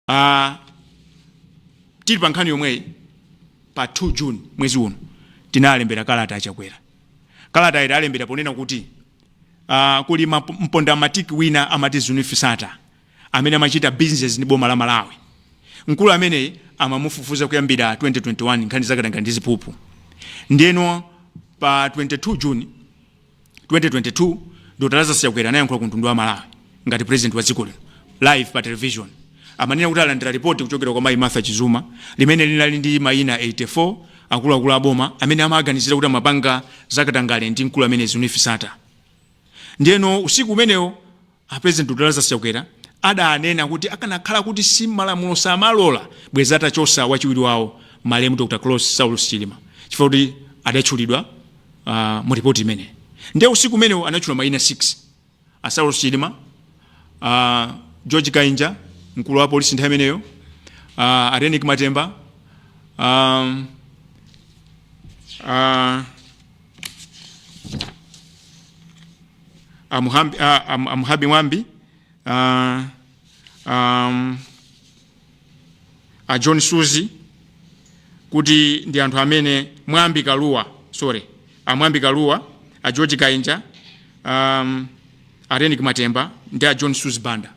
Uh, tili pa nkhani yomweyi pa 2 June mwezi uno tinalembera kalata a Chakwera kalata ita tawalembera ponena kuti uh, kuli mpondamatiki wina amati Zuneth Sattar amene amachita business ndi boma la Malawi mkulu ameneyi amamufufuza kuyambira 2021 nkhani zakatangale ndi ziphuphu ndeno pa 22 June 2022 Dr Lazarus Chakwera anayankhula ku mtundu wa aMalawi ngati president wa dziko lino live pa television ananena kuti alandira ripoti kuchokera kwa mayi Martha Chizuma limene linali ndi mayina 84 akuluakulu a boma amene amaganizira kuti amapanga zakatangale ndi mkulu ameneyi Zuneth Sattar ndiyeno usiku umenewo A president Dr Lazarus Chakwera adanena kuti akanakhala kuti si malamulo samalola bwezi atachosa wachiwiri wawo malemu Dr Klaus Saulos Chilima chifukwa kuti adatchulidwa uh, mu report imeneyo nde usiku umenewo anatchula maina 6 a Saulos Chilima uh, George Kainja mkulu wa polisi nthawi imeneyo uh, a Reyneck Matemba um, uh, amuhambi, a, am, amuhabi mwambi a, um, a john suzi kuti ndi anthu amene mwambi kaluwa sorry amwambi kaluwa a george kainja um, a Reyneck matemba ndi a john suzi banda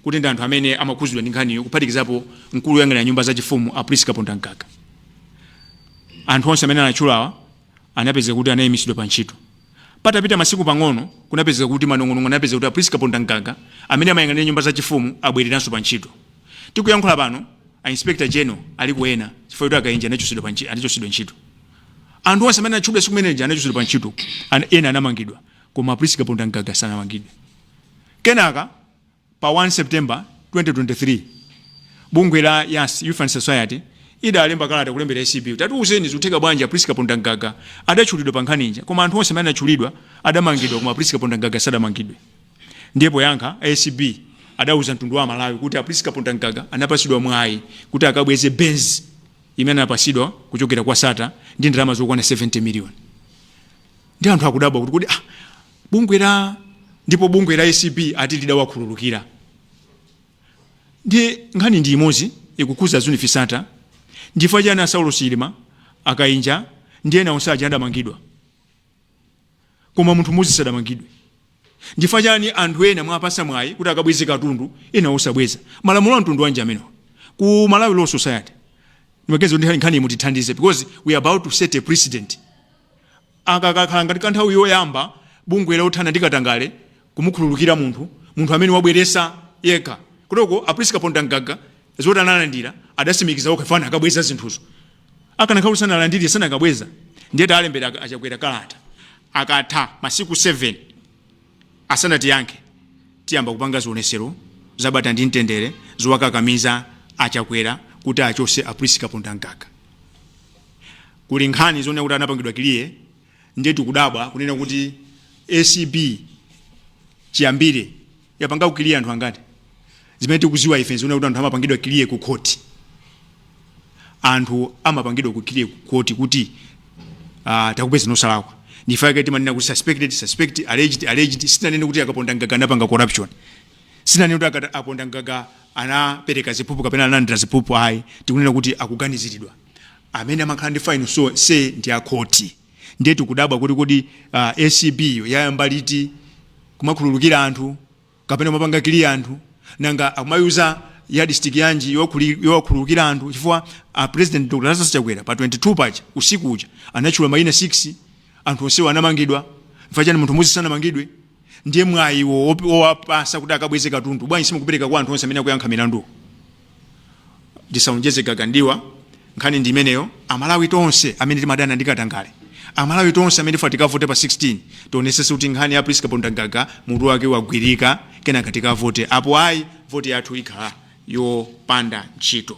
kuti ndi anthu amene amakhuzidwa ndi nkhaniyo kuphatikizapo mkulu woyang'anira nyumba zachifumu a Prince Kapondamgaga Anthu onse amene anatchulawa anapezeka kuti anaimitsidwa pa ntchito. Patapita masiku pang'ono, kunapezeka kuti manong'onong'o anapezeka kuti a Prince Kapondamgaga, amene amayang'anira nyumba za chifumu, abwereranso pa ntchito. Tikuyankhula pano, a Inspector General aliko ena chifukwa choti a Kainja anachotsedwa ntchito. Anthu onse amene anatchulidwa tsiku limene lija anachotsedwa pa ntchito, ena anamangidwa koma a Prince Kapondamgaga sanamangidwe. Kenaka. Pa 1 September 2023, bungwe la yas, Youth and Society, idalemba kalata kulembera acb kuti tatiuzeni zikutheka bwanji a Prince Kapondamgaga adatchulidwa pa nkhani ija koma anthu onse amene anatchulidwa adamangidwa koma Prince Kapondamgaga sadamangidwe. Ndiye poyankha, a acb adauza mtundu wa Amalawi kuti a Prince Kapondamgaga anapatsidwa mwayi kuti akabweze Benz imene anapatsidwa kuchokera kwa Sattar ndi ndalama zokwana 70 miliyoni. Ndiye anthu akudabwa kuti kodi ah, Bungwe la ndipo bungwe la acb ati lidawakhululukira. Ndiye nkhani ndi imodzi ikukhuza Zuneth Sattar, nchifukwa chani a Saulos Chilima, a Kainja ndi ena onse aja adamangidwa koma munthu mmodzi sadamangidwe? Nchifukwa chani anthu ena mwawapasa mwayi kuti akabweze katundu ena osabweza? Malamulo a mtundu wanji amenewa ku Malawi Law Society? Ndimaganiza kuti nkhani iyi mutithandize because we are about to set a precedent. Aka kakhala ngati ka nthawi yoyamba bungwe lothana ndi katangale kumukhululukira munthu munthu amene wabweresa yekha kutoko a Prince Kapondamgaga zoti analandira adasimikiza okha chifukwa anakabweza zinthuzo akanakhala kuti sanalandire sanakabweza ndiye taalembera a Chakwera kalata akatha masiku 7 Asanatiyankhe tiyamba kupanga zioneselo zabata ndi mtendere zowakakamiza a Chakwera kuti achose a Prince Kapondamgaga. Kuli nkhani zonena kuti anapangidwa clear ndiye tikudabwa kunena kuti acb chiyambile yapangako clear anthu angati? Zimene tikuziwa ife nzonena kuti anthu amapangidwa clear ku court. Anthu amapangidwa ku clear ku court kuti ah, takupezani osalakwa. Nchifukwa chake timanena kuti suspected, suspect, alleged, alleged. Sitinanene kuti a Kapondamgaga anapanga corruption. Sitinanene kuti a Kata- Kapondamgaga anapereka ziphuphu kapena analandira ziphuphu ayi. Tikunena kuti akuganiziridwa. Amene amakhala ndi final so say ndi a court. Ndiye tikudabwa kuti kodi ah, ACB yo yayamba liti kumakhululukira anthu kapena kumapanga clear anthu nanga akumayuza yardstick yanji yokhuli- yowakhululukira anthu chifukwa a president dr lazarus chakwera pa 22 paja usiku uja anatchula mayina 6 anthu onsewo anamangidwa chifukwa chani munthu mmodzi sanamangidwe ndiye mwayiwo opi- owapasa kuti akabweze katundu bwanji simukupereka kwa anthu onse amene akuyankha milanduwo ndisaonjeze gaga m'diwa nkhani ndi imeneyo amalawi tonse amene timadana ndi katangale amalawi tonse amene tifuna tikavote pa 16 tionesese kuti nkhani ya prince kapondamgaga mutu wake wagwirika kenaka tikavote apo ayi voti yathu ikhala yopanda ntchito